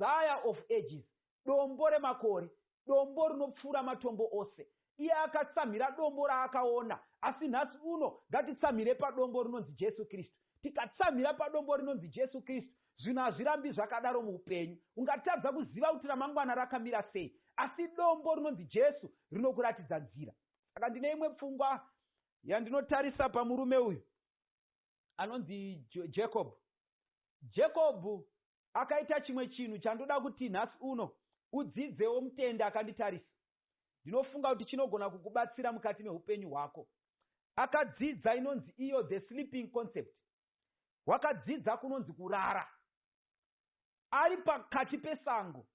Messiah of Ages, Dombo remakore, Dombo rinopfuura matombo ose. Iye akatsamhira dombo raakaona, asi nhasi uno ngatitsamhire padombo rinonzi Jesu Kristu. Tikatsamhira padombo rinonzi Jesu Kristu, zvinhu hazvirambi zvakadaro muupenyu. Ungatadza kuziva kuti ramangwana rakamira sei, asi dombo rinonzi Jesu rinokuratidza nzira. Saka ndine imwe pfungwa yandinotarisa pamurume uyu. anonzi Jacob. Jacob akaita chimwe chinhu chandoda kuti nhasi uno udzidzewo mutendi akanditarisa. Ndinofunga kuti chinogona kukubatsira mukati mehupenyu hwako. Akadzidza inonzi iyo the sleeping concept. Wakadzidza kunonzi kurara. Ari pakati pesango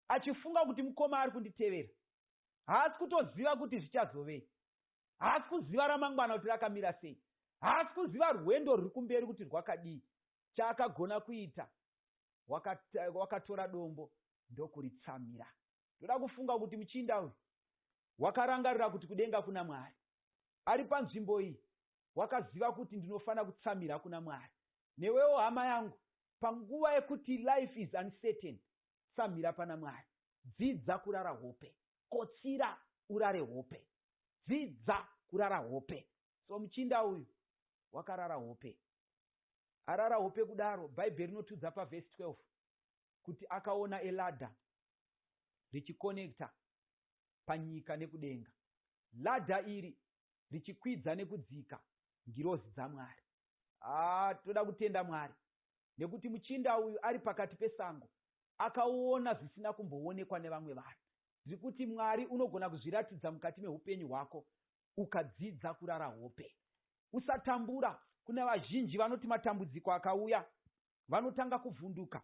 achifunga kuti mukoma ari kunditevera. Haasi kutoziva kuti zvichazovei. Haasi kuziva ramangwana kuti rakamira sei. Haasi kuziva rwendo ruri kumberi kuti rwakadii. Chaakagona kuita, wakatora dombo ndokuritsamira. Ndoda kufunga kuti muchinda uyu wakarangarira kuti kudenga kuna Mwari. Ari panzvimbo iyi, wakaziva kuti ndinofanira kutsamira kuna Mwari. Newewo hama yangu, panguva yekuti life is uncertain, Tsamhira pana Mwari. Dzidza kurara hope. Kotsira urare hope. Dzidza kurara hope. So muchinda uyu wakarara hope. Arara hope kudaro bhaibheri rinotiudza pa verse 12 kuti akaona a ladder richi connector panyika nekudenga. Ladder iri richikwidza nekudzika ngirozi dzaMwari. haa toda kutenda Mwari nekuti muchinda uyu ari pakati pesango akaona zvisina kumboonekwa nevamwe vanhu. Zvrikuti Mwari unogona kuzviratidza mukati mehupenyu hwako ukadzidza kurara hope. Usatambura, kune vazhinji vanoti matambudziko akauya vanotanga kuvhunduka,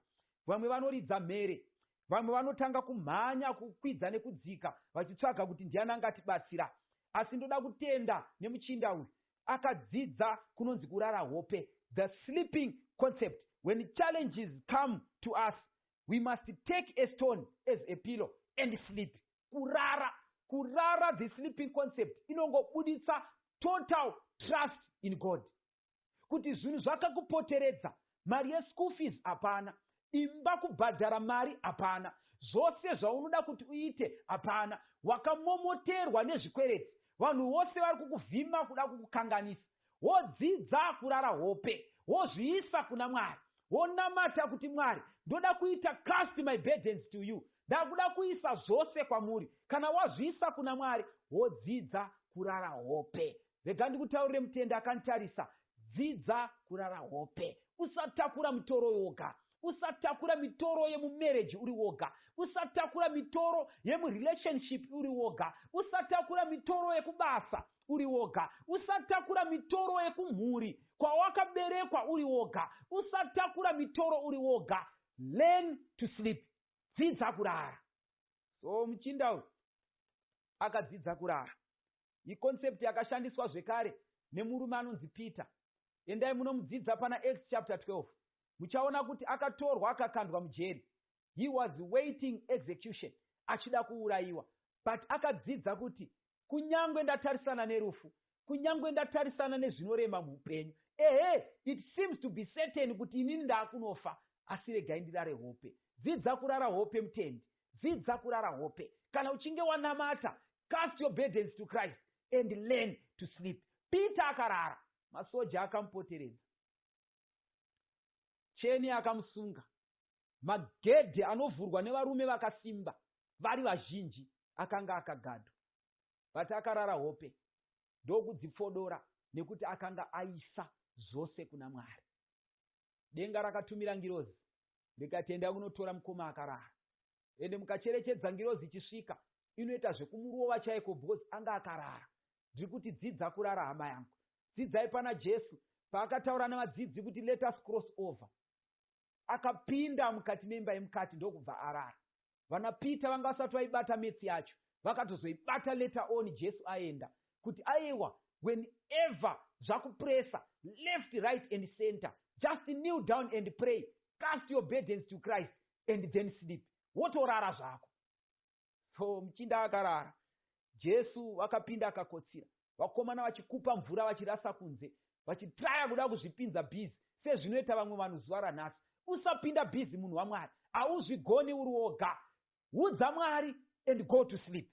vamwe vanoridza mhere, vamwe vanotanga kumhanya kukwidza nekudzika vachitsvaga kuti ndiani angatibatsira. Asi ndoda kutenda nemuchinda uyu akadzidza kunonzi kurara hope, the sleeping concept, when challenges come to us we must take a stone as a pillow and sleep. Kurara, kurara, the sleeping concept, inongobuditsa total trust in God. kuti zvinhu zvakakupoteredza mari yeschool fees hapana, imba kubhadhara mari hapana, zvose zvaunoda kuti uite hapana, wakamomoterwa nezvikwereti, vanhu vose vari kukuvhima kuda kukukanganisa, wodzidza kurara hope, wozviisa kuna Mwari, wonamata kuti Mwari ndoda kuita cast my burdens to you, ndakuda kuisa zvose kwamuri, kana wazviisa kuna Mwari wodzidza kurara hope Rega ndikutaurire Mutende akanditarisa Dzidza kurara hope Usatakura mitoro woga Usatakura mitoro yemu marriage uri woga Usatakura mitoro yemu relationship uri woga Usatakura mitoro yekubasa uri woga Usatakura mitoro yekumhuri kwawakaberekwa uri woga Usatakura mitoro uri woga Learn to sleep Dzidza kurara So muchinda uyu akadzidza kurara iconcept yakashandiswa zvekare nemurume anonzi Peter. Endai munomudzidza pana Acts chapter 12. Muchaona kuti akatorwa akakandwa mujeri. He was waiting execution achida kuurayiwa but akadzidza kuti kunyangwe ndatarisana nerufu, kunyangwe ndatarisana nezvinorema muhupenyu, ehe it seems to be certain kuti inini ndaakunofa asi regai ndirare hope. Dzidza kurara hope mutendi. Dzidza kurara hope. Kana uchinge wanamata, cast your burdens to Christ and learn to sleep. Peter akarara. Masoja akamupoteredza. Cheni akamusunga. Magedhi anovhurwa nevarume vakasimba vari vazhinji akanga akagadwa. But akarara hope ndokudzipfodora nekuti akanga aisa zvose kuna Mwari. denga rakatumira ngirozi rikati endai munotora mukoma akarara ende mukacherechedza ngirozi ichisvika inoita zvekumurova chaiko because anga akarara ndiri kuti dzidza kurara hama yangu dzidzai pana Jesu paakataura nevadzidzi kuti let us cross over akapinda mukati memba yemukati ndokubva arara Vana Peter vanga vasati vaibata maths yacho vakatozoibata later on Jesu aenda kuti ayewa when ever zvakupressa left right and center just kneel down and pray cast your burdens to Christ and then sleep wotorara zvako. So muchinda akarara Jesu vakapinda akakotsira vakomana vachikupa mvura vachirasa kunze vachitraya kuda kuzvipinza busy sezvinoita vamwe vanhu zuva ranhasi usapinda busy munhu waMwari hauzvigoni uri woga udza Mwari and go to sleep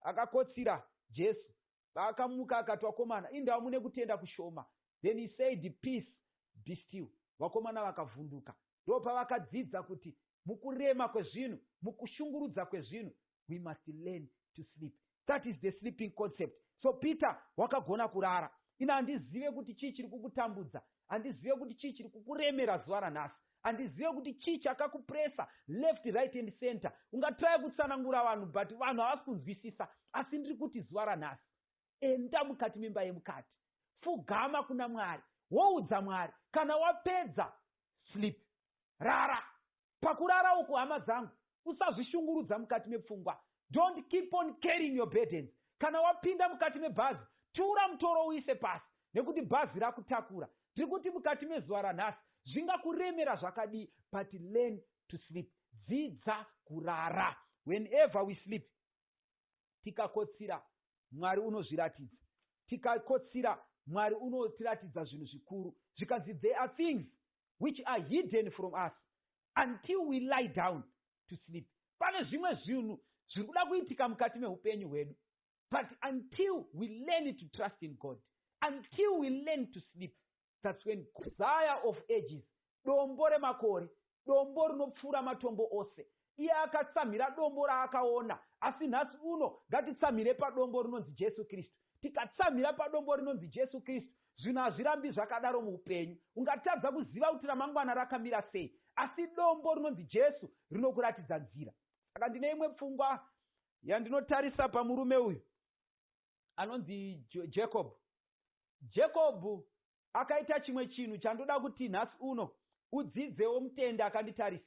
akakotsira Jesu paakamuka akati vakomana indawo mune kutenda kushoma then he said peace be still vakomana vakavhunduka ndopavakadzidza kuti mukurema kwezvinhu mukushungurudza kwezvinhu we must learn to sleep that is the sleeping concept so peter wakagona kurara ini handizive kuti chii chiri kukutambudza handizive kuti chii chiri kukuremera zuva ranhasi handizive kuti chii chakakupresa left right and center ungatraya kutsanangura vanhu but vanhu havasi kunzwisisa asi ndiri kuti zuva ranhasi enda mukati memba yemukati fugama kuna mwari woudza mwari kana wapedza sleep rara pakurara uku hama dzangu usazvishungurudza mukati mepfungwa don't keep on carrying your burdens kana wapinda mukati mebhazi tura mutoro uise pasi nekuti bhazi rakutakura tiri kuti mukati mezuva ranhasi zvingakuremera zvakadii but learn to sleep dzidza kurara whenever we sleep tikakotsira, Mwari unozviratidza. Tikakotsira, Mwari unotiratidza zvinhu zvikuru. Zvikanzi, There are things which are hidden from us until we lie down to sleep. Pane zvimwe zvinhu zviri kuda kuitika mukati mehupenyu hwedu. But until we learn to trust in God, until we learn to sleep, That's when God. Messiah of Ages, Dombo remakore, Dombo rinopfuura matombo ose. Iye akatsamhira dombo raakaona, asi nhasi uno ngatitsamhire padombo rinonzi Jesu Kristu. Tikatsamhira padombo rinonzi Jesu Kristu, zvinhu hazvirambi zvakadaro muupenyu. Ungatadza kuziva kuti ramangwana rakamira sei, asi dombo rinonzi Jesu rinokuratidza nzira. Saka ndine imwe pfungwa yandinotarisa pamurume uyu. anonzi jacob jacob akaita chimwe chinhu chandoda kuti nhasi uno udzidzewo mutende akanditarisa